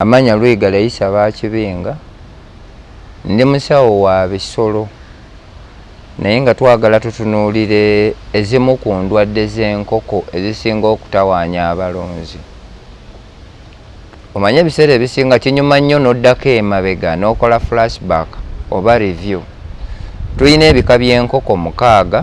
Amanya Lwiga Layisa Bakibinga, ndi musawo wa bisolo naye nga twagala tutunuulire ezimu ku ndwadde z'enkoko ezisinga okutawaanya abalunzi. Omanyi ebiseera ebisinga kinyuma nnyo n'oddako emabega n'okola flashback oba review. Tulina ebika by'enkoko mukaaga.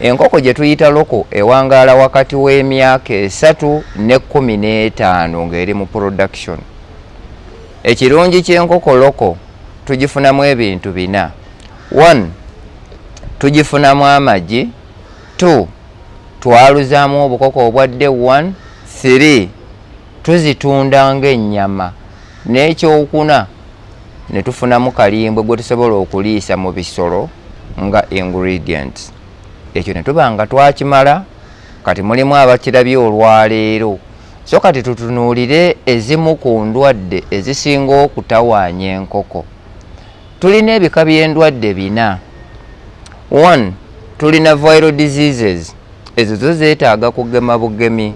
Enkoko gye tuyita loko ewangaala wakati w'emyaka esatu ne kkumi n'etaano ng'eri mu production. Ekirungi ky'enkoko loko tugifunamu ebintu bina. One, tugifunamu amagi. Two, twaluzaamu obukoko obwadde one, three, Tuzitunda ng'ennyama. N'ekyokuna ne tufunamu kalimbwe gwe tusobola okuliisa mu bisolo nga ingredients. Ekyo ne tuba nga twakimala. Kati mulimu abakirabye olwaleero. So kati tutunuulire ezimu ku ndwadde ezisinga okutawaanya enkoko. Tulina ebika by'endwadde bina. One, tulina viral diseases. Ezo zo zeetaaga kugema bugemi.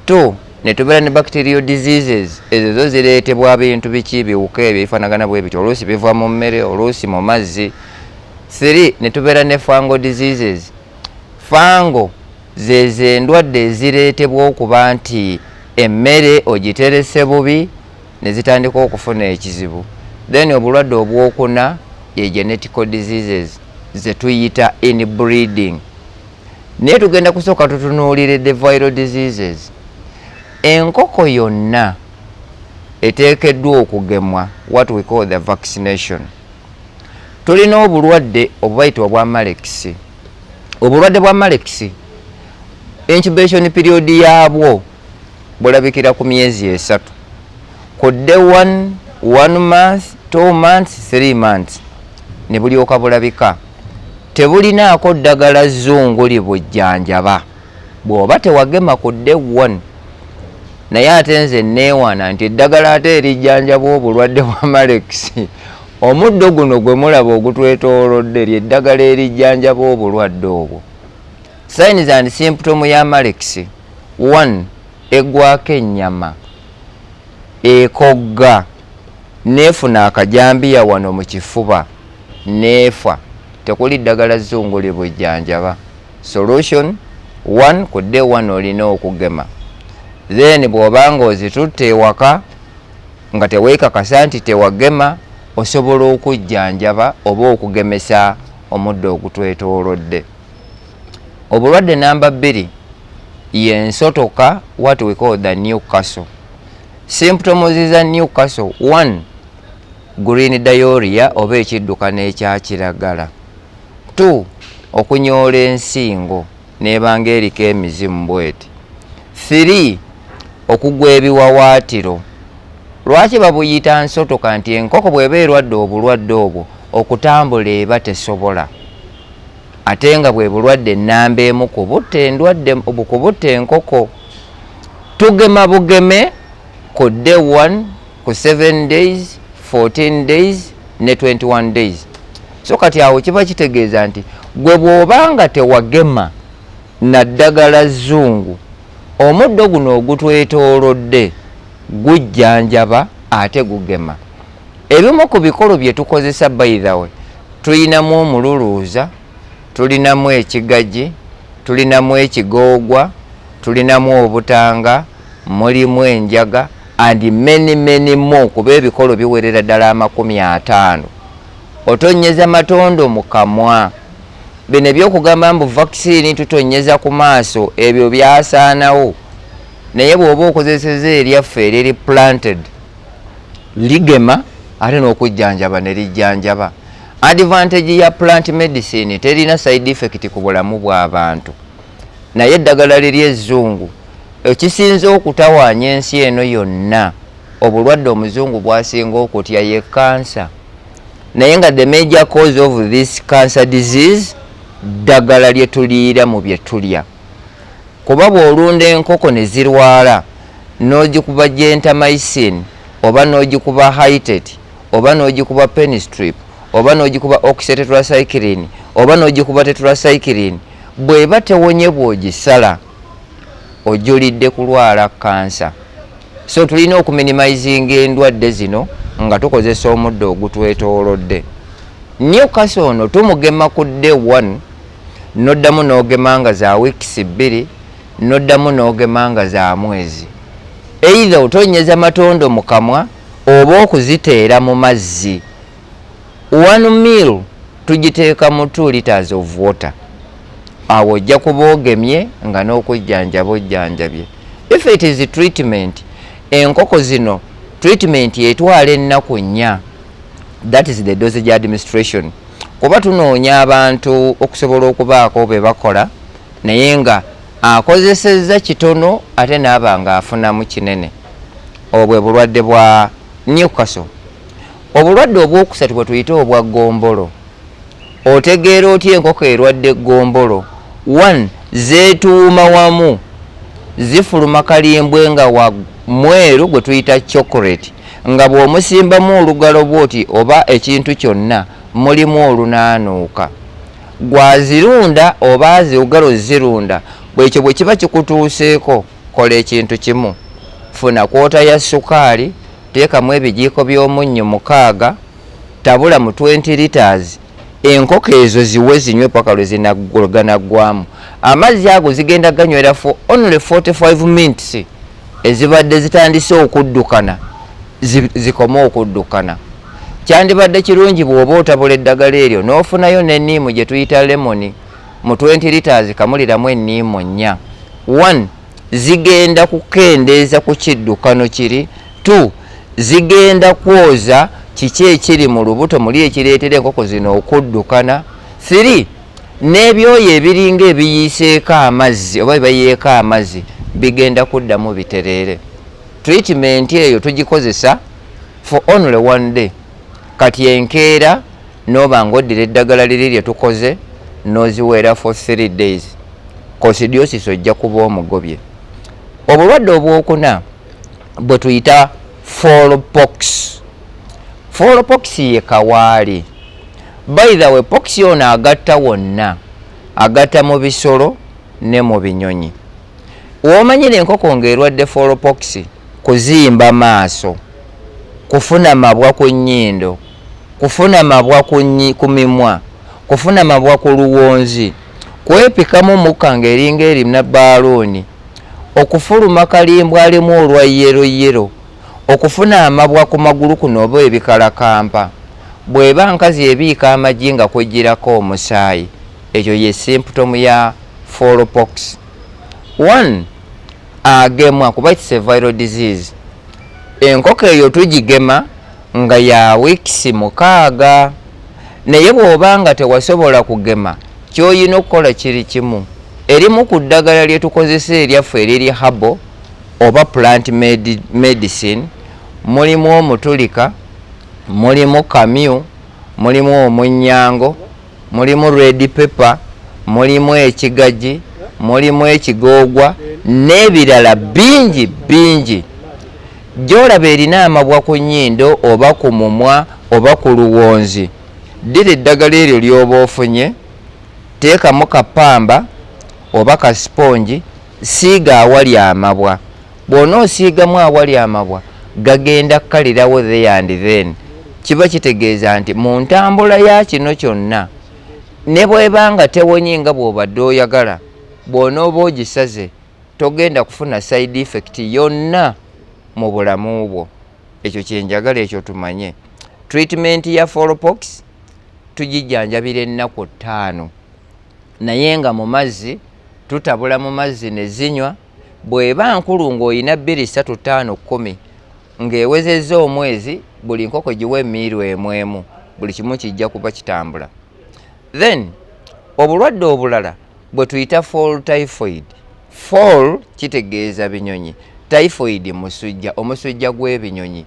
2 netubeera ne bacterial diseases ezo zo zireetebwa bintu biki biwuka ebyo bifanagana bwe bityo oluusi biva mu mmere oluusi mu mazzi 3 netubeera ne fango diseases fango zezo endwadde ezireetebwa okuba nti emmere ogiterese bubi nezitandika okufuna ekizibu then obulwadde obwokuna ye genetical diseases zetuyita in breeding naye tugenda kusooka tutunuulire the viral diseases enkoko yonna eteekeddwa okugemwa what we call the vaccination tulina obulwadde obubayitibwa obwa malekisi obulwadde bwa malekisi incubation period yaabwo bulabikira ku myezi esatu kudde one month two months three months ne bulyoka bulabika Tebulinaako ddagala zzungu libujjanjaba. Bw'oba tewagema ku day one naye ate nze nneewaana nti eddagala ate erijjanjaba obulwadde bwa malekisi. Omuddo guno gwe mulaba ogutwetoolodde lye ddagala erijjanjaba obulwadde obwo. Signs and symptom ya malekisi, one, eggwaako ennyama, ekogga, n'efuna akajambiya wano mu kifuba neefa tekuli ddagala zzungu libujjanjaba solution one ku day one olina okugema then bw'oba nga ozitutte ewaka nga teweekakasa nti tewagema osobola okujjanjaba oba okugemesa omuddo ogutwetoolodde obulwadde namba bbiri yensotoka what we call the new castle symptoms za new castle one Green diorrhea oba ekiddukano ekya kiragala. Two, okunyoola ensingo n'eba nga eriko emizimu bweti. Three, okugwa ebiwawaatiro. Lwaki babuyita nsoto kanti enkoko bweba erwadde obulwadde obwo okutambula eba tesobola ate nga bwe bulwadde namba emu kubutta endwadde kubutta enkoko. Tugema bugeme ku day one ku 7 days 14 days ne 21 days so kati awo kiba kitegeeza nti gwe bwoba nga tewagema naddagala zungu omuddo guno ogutwetoolodde gujjanjaba ate gugema ebimu ku bikolo bye tukozesa baithawe tulinamu omululuuza tulinamu ekigagi tulinamu ekigoogwa tulinamu obutanga mulimu enjaga and many many more kuba ebikolo biwerera ddala amakumi ataano otonyeza matondo mu kamwa bino ebyokugamba mbu vaccine tutonyeza ku maaso ebyo byasaanawo naye bw'oba okozeseza eryaffe eriri planted ligema ate n'okujjanjaba ne lijjanjaba advantage ya plant medicine terina side effect ku bulamu bw'abantu naye eddagala liri ezzungu Ekisinze okutawaanya ensi eno yonna obulwadde omuzungu bwasinga okutya ye cancer naye nga the major cause of this cancer disease ddagala lye tuliira mu bye tulya kuba bw'olunda enkoko ne zirwala n'ogikuba gentamycin oba n'ogikuba hitet oba n'ogikuba penistrip oba n'ogikuba oxytetracycline oba n'ogikuba tetracycline bw'eba tewonye bw'ogisala ojulidde kulwala kkansa. So tulina okuminimizinga endwadde zino nga tukozesa omuddo ogutwetoolodde. Newcastle ono tumugema ku day one n'oddamu n'ogema nga za wiikisi bbiri n'oddamu n'ogema nga za mwezi. Either otonnyeza matondo mu kamwa oba okuziteera mu mazzi. One meal tugiteeka mu two litres of water awo ojja kuba ogemye nga n'okujjanjaba ojjanjabye. If it is treatment enkoko zino treatment etwala ennaku nnya that is the dosage administration kuba tunoonya abantu okusobola okubaako be bakola naye nga akozesezza kitono ate naaba nga afunamu kinene obwo bwe bulwadde bwa Newcastle. Obulwadde obwokusatu bwe tuyita obwa ggombolo. Otegeera otya enkoko erwadde ggombolo? One, zeetuuma wamu, zifuluma kalimbwe nga wa mweru gwe tuyita chocolate nga bw'omusimbamu olugalo bw'oti oba ekintu kyonna mulimu olunaanuuka. Ggwe azirunda oba aziwgala ozirunda, ekyo bwe kiba kikutuuseeko kola ekintu kimu, funa kwota ya ssukaali, Teekamu ebijiiko by'omunnyo mukaaga, tabula mu 20 litres enkoko ezo ziwe zinywe paka lwe zinagwanaggwamu amazzi ago zigenda ganywera for only 45 minutes ezibadde zitandise okuddukana zikome okuddukana kyandibadde kirungi bw'oba otabula eddagala eryo n'ofunayo n'enniimu gye tuyita lemoni mu 20 litres kamuliramu enniimu nnya 1 zigenda kukendeeza ku kiddukano kiri tu zigenda kwoza kiki ekiri mu lubuto muli ekireetera enkoko zino okuddukana thiri n'ebyoyo ebiringa ebiyiiseeko amazzi oba bibayeeko amazzi bigenda kuddamu bitereere treatment eyo tugikozesa for only one day kati enkeera Noba nga oddira eddagala liri lye tukoze n'oziweera for three days, kosidiosisi ojja kuba omugobye. Obulwadde obwokuna bwe tuyita fallpox. Fallpox ye kawaali. By the way, pox ono agatta wonna, agatta mu bisolo ne mu binyonyi. Womanyira enkoko ng'erwadde fallpox, kuzimba maaso, kufuna mabwa ku nnyindo, kufuna mabwa ku mimwa, kufuna mabwa ku luwonzi, kwepikamu mukka ng'eringa erina baaluuni, okufuluma kalimbwalimbwa olwa yeroyero, okufuna amabwa ku magulu kuno oba ebikalakampa. Bw'eba nkazi ebiika amagi nga kwejjirako omusaayi, ekyo ye simputomu ya Fall pox. One, agemwa kuba it's a viral disease. Enkoko eyo tugigema. nga ya wiikisi mukaaga naye bw'oba nga tewasobola kugema ky'olina okukola kiri kimu, erimu ku ddagala lye tukozesa eryaffe eriri herbal oba plant medicine mulimu omutulika, mulimu kamyu, mulimu omunnyango, mulimu red pepper, mulimu ekigagi, mulimu ekigoogwa n'ebirala bingi bingi. Gy'olaba erina amabwa ku nnyindo oba ku mumwa oba ku luwonzi, ddira eddagala eryo ly'oba ofunye, teekamu ka ppamba oba ka sipongi, siiga awali amabwa. Bw'onoosiigamu awali amabwa, gagenda kukalirawo there and then. Kiba kitegeeza nti mu ntambula ya kino kyonna, ne bw'eba nga tewonye nga bw'obadde oyagala, bw'onooba ogisaze, togenda kufuna side effect yonna mu bulamu bwo ekyo kyenjagala ekyo tumanye treatment ya folopox tugijjanjabira ennaku ttaano naye nga mu mazzi tutabula mu mazzi ne zinywa bw'eba nkulu ng'olina bbiri ssatu ttaano kkumi ng'ewezezza omwezi buli nkoko giwa emiiru emu emu buli kimu kijja kuba kitambula then obulwadde obulala bwe tuyita fall typhoid fall kitegeeza binyonyi typhoid musujja omusujja gw'ebinyonyi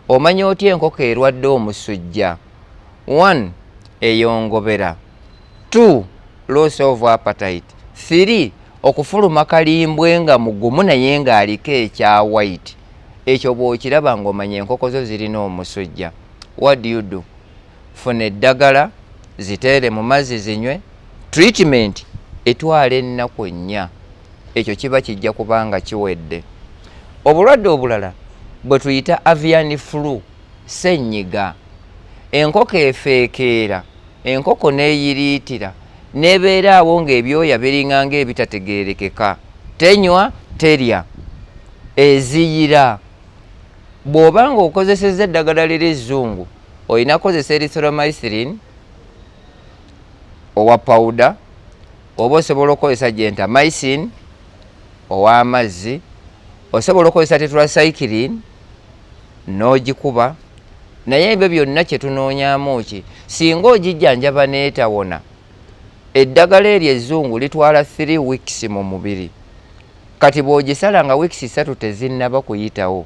omanya otya enkoko erwadde omusujja one eyongobera two loss of appetite three okufuluma kalimbwe nga mugumu naye ng'aliko ekya white ekyo bw'okiraba ng'omanya enkoko zo zirina omusujja what do you do funa eddagala ziteere mu mazzi zinywe treatment etwala ennaku ennya ekyo kiba kijja kuba nga kiwedde obulwadde obulala bwe tuyita avian flu sennyiga enkoko efeekeera enkoko n'eyiriitira n'ebeera awo ng'ebyoya biringa ng'ebitategeerekeka tenywa terya eziyira bw'oba ng'okozesezza eddagala liri ezzungu olina kozesa erythromycin owa pawuda oba osobola okukozesa genta mycin ow'amazzi osobola okukozesa tetracycline n'ogikuba naye ebyo byonna kye tunoonyamu ki singa ogijjanjaba n'etawona eddagala eryo ezzungu litwala 3 weeks mu mubiri kati bw'ogisala nga weeks ssatu tezinnaba kuyitawo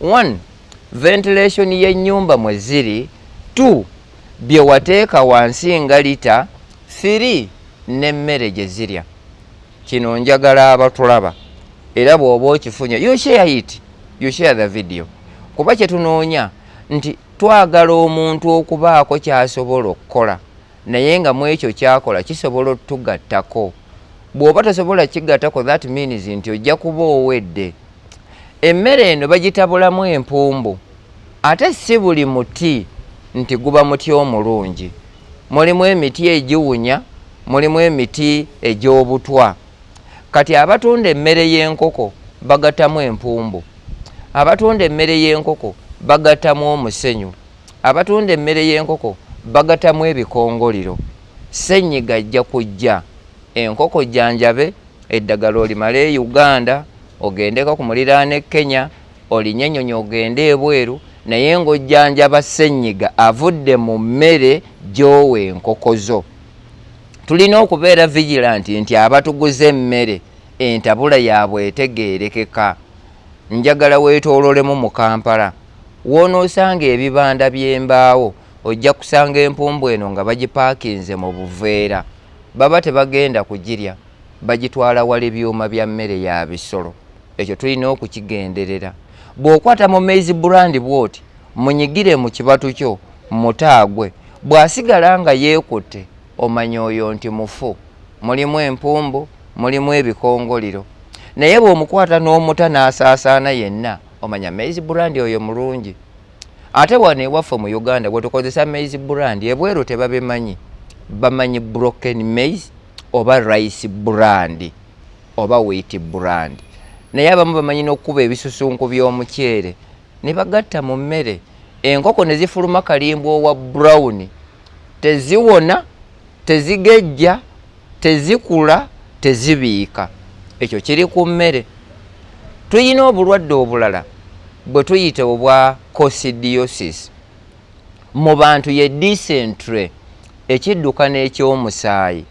1 ventilation y'ennyumba mwe ziri 2 bye wateeka wansi nga lita 3 n'emmere gye zirya kino njagala abatulaba era bw'oba okifunye you share it you share the video kuba kye tunoonya nti twagala omuntu okubaako ky'asobola okukola naye nga mu ekyo kyakola kisobola otugattako bw'oba tosobola kigattako that means nti ojja kuba owedde emmere eno bagitabulamu empumbu ate si buli muti nti guba muti omulungi mulimu emiti egiwunya mulimu emiti egy'obutwa kati abatunda emmere y'enkoko bagatamu empumbu abatunda emmere y'enkoko bagatamu omusenyu abatunda emmere y'enkoko bagatamu ebikongoliro senyiga ajja kujja enkoko janjabe eddagala olimala e uganda ogendeko ku muliraano e kenya olinye ennyonyi ogende ebweru naye ng'ojjanjaba ssenyiga avudde mu mmere gyowa enkoko zo tulina okubeera vigilanti nti abatuguza emmere entabula yaabwe etegeerekeka njagala weetoololemu mu kampala woonoosanga ebibanda by'embaawo ojja kusanga empumbu eno nga bagipaakinze mu buveera baba tebagenda kugirya bagitwala wala ebyuma bya mmere ya bisolo ekyo tulina okukigenderera bw'okwata mu maize brand bwoti munyigire mu kibatu kyo mutaagwe bw'asigala nga yeekutte omanya oyo nti mufu mulimu empumbu mulimu ebikongoliro naye bw'omukwata n'omuta n'asaasaana yenna omanya maize brand oyo mulungi ate wano ewaffe mu uganda bwetukozesa maize brand ebweru tebabimanyi bamanyi broken maize oba rice brand oba wheat brand naye abamu bamanyi n'okukuba ebisusunku by'omuceere ne bagatta mu mmere enkoko ne zifuluma kalimbwa owa brown teziwona tezigejja tezikula tezibiika ekyo kiri ku mmere tulina obulwadde obulala bwe tuyita obwa cosidiosis mu bantu ye disentre ekidduka n'ekyomusaayi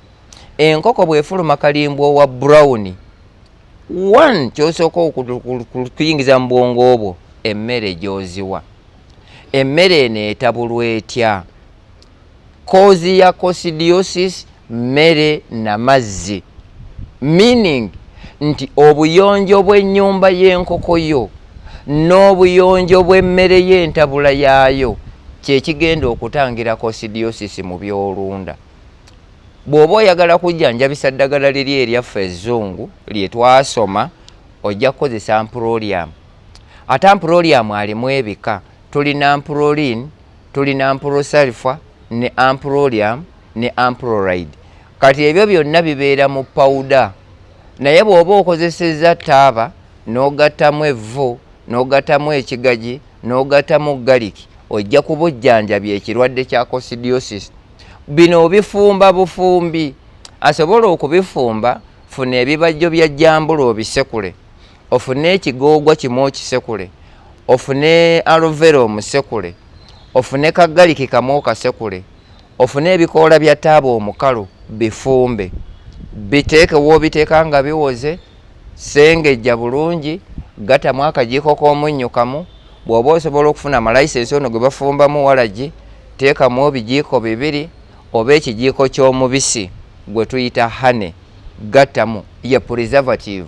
enkoko bwefuluma kalimbwa owa brown one kyosooka okuyingiza mu bwongo obwo emmere gyoziwa emmere eno etabulwa etya kozi ya cosidiosis mmere na mazzi meaning nti obuyonjo bw'ennyumba y'enkoko yo n'obuyonjo bw'emmere y'entabula yaayo kyekigenda okutangira cosidiosis mu byolunda bw'oba oyagala kujjanjabisa ddagala liri eryaffe ezzungu lye twasoma ojja kukozesa mprolium ate mprolium alimu ebika tulina mprolin tulina ampurosalfa ne ampurolium ne ampuroride kati ebyo byonna bibeera mu pawuda naye bw'oba okozesezza taaba n'ogattamu evvu n'ogattamu ekigagi n'ogattamu galiki ojja kubujjanjabya ekirwadde kya cosidiosis bino obifumba bufumbi asobola okubifumba funa ebibajjo bya jambula obisekule ofune ekigoogwa kimu okisekule ofune alovera omusekule ofune kagaliki kamu okasekule ofune ebikoola bya taaba omukalu bifumbe biteeke woobiteeka nga biwoze sengejja bulungi gatamu akajiiko k'omunnyo kamu bw'oba osobola okufuna amalayisensi ono gwe bafumbamu walagi teekamu ebijiiko bibiri oba ekijiiko ky'omubisi gwe tuyita hane gattamu ye preservative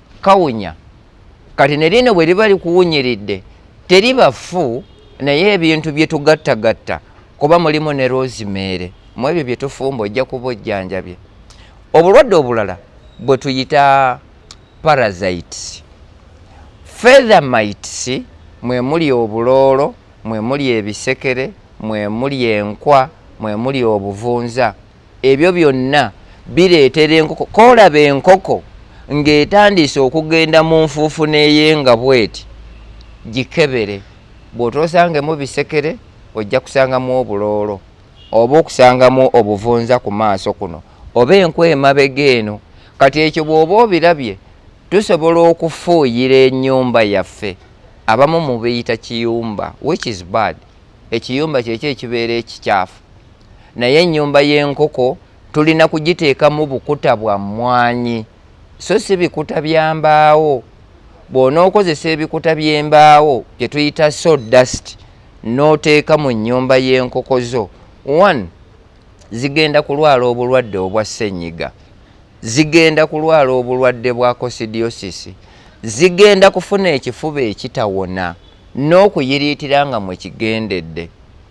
kawunya kati ne lino bwe liba likuwunyiridde teriba fu naye ebintu bye tugattagatta kuba mulimu ne rozimeere mu ebyo bye tufumba ojja kuba ojjanjabye obulwadde obulala bwe tuyita parasites feathermites mwe muli obuloolo mwe muli ebisekere mwe muli enkwa mwe muli obuvunza ebyo byonna bireetera enkoko kolaba enkoko ng'etandiise okugenda mu nfuufu neyenga bweti gikebere bw'otoosangemu bisekere ojja kusangamu obuloolo oba okusangamu obuvunza ku maaso kuno oba enkwa emabega eno kati ekyo bw'oba obirabye tusobola okufuuyira ennyumba yaffe abamu mubiyita kiyumba which is bad ekiyumba kyekyo ekibeera ekikyafu naye ennyumba y'enkoko tulina kugiteekamu bukuta bwa mmwanyi so si bikuta bya mbaawo bw'onookozesa ebikuta by'embaawo bye tuyita so dust n'oteeka mu nnyumba y'enkoko zo one zigenda kulwala obulwadde obwa ssenyiga zigenda kulwala obulwadde bwa kosidiosisi zigenda kufuna ekifuba ekitawona n'okuyiriitira nga mwe kigendedde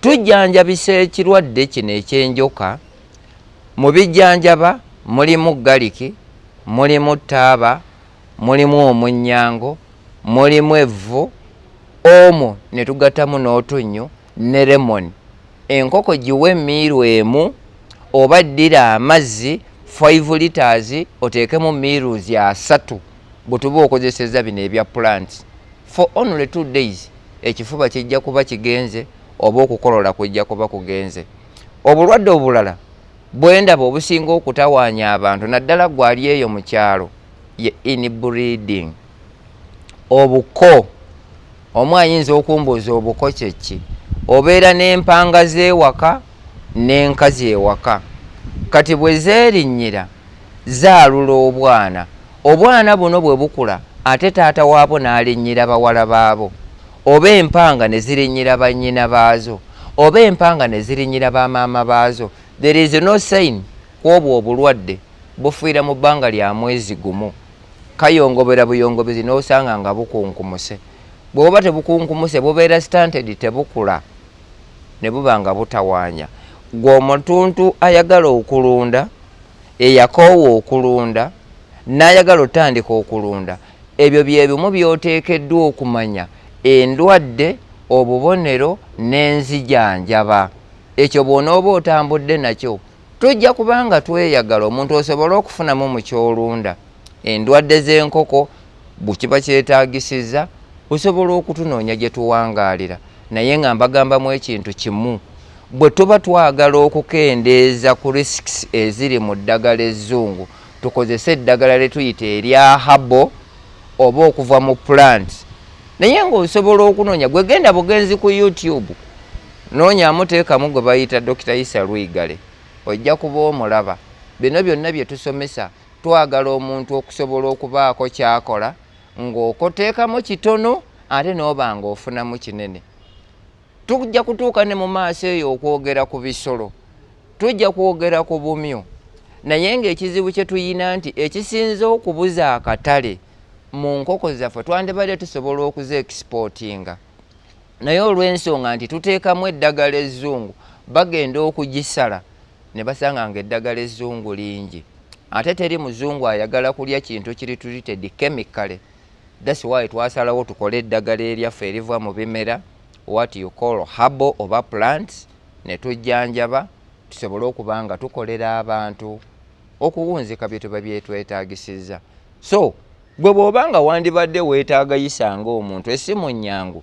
Tujjanjabisa ekirwadde kino eky'enjoka. Mu bijjanjaba mulimu galiki, mulimu taaba, mulimu omunnyango, mulimu evvu, omo ne tugatamu n'otunnyu ne lemoni. Enkoko giwe emmiiru emu oba ddira amazzi 5 litres oteekemu miruzi asatu bwetuba okozeseza bino ebya plants for only two days ekifuba kijja kuba kigenze oba okukolola kujja kuba kugenze obulwadde obulala bwendaba obusinga okutawaanya abantu naddala gwali eyo mu kyalo ye inbreeding obuko omu ayinza okumbuuza obuko kyeki obeera n'empanga z'ewaka n'enkazi ewaka kati bwe zeerinnyira zaalula obwana Obwana buno bwe bukula ate taata waabwo n'alinnyira bawala baabo, oba empanga ne zirinnyira bannyina baazo, oba empanga ne zirinnyira ba maama baazo, there is no sign ku obwo obulwadde bufiira mu bbanga lya mwezi gumu. Kayongobera buyongobezi n'osanga nga bukunkumuse. Bwe buba tebukunkumuse bubeera stunted tebukula ne buba nga butawaanya. Ggwe omutuntu ayagala okulunda, eyakoowa okulunda, n'ayagala otandika okulunda ebyo bye bimu by'oteekeddwa okumanya endwadde obubonero n'enzijanjaba ekyo bw'onooba otambudde nakyo tujja kubanga tweyagala omuntu osobole okufunamu mu kyolunda endwadde z'enkoko bwekiba kyetagisiza osobola okutunoonya gye tuwangaalira naye nga mbagambamu ekintu kimu bwe tuba twagala okukendeeza ku risks eziri mu ddagala ezzungu tukozese eddagala lye tuyita erya habo oba okuva mu plant naye ng'osobola okunoonya gwe genda bugenzi ku youtube noonyamu teekamu gwe bayita dokita isa lwigale ojja kuba omulaba bino byonna bye tusomesa twagala omuntu okusobola okubaako kyakola ng'okoteekamu kitono ate n'oba ng'ofunamu kinene tujja kutuuka ne mu maaso eyo okwogera ku bisolo tujja kwogera ku bumyu naye ng'ekizibu kye tuyina nti ekisinze okubuza akatale mu nkoko zaffe twandibadde tusobola okuza ekisipotinga naye olw'ensonga nti tuteekamu eddagala ezzungu bagenda okugisala ne basanga ng'eddagala ezzungu lingi ate teri muzungu ayagala kulya kintu kiri treated chemically that's why twasalawo tukole eddagala eryaffe eriva mu bimera what you call habo oba plants ne tujjanjaba tusobole okuba nga tukolera abantu okuwunzika bye tuba byetwetaagisiza so gwe bw'oba nga wandibadde weetaagayisa ng'omuntu esimu nnyangu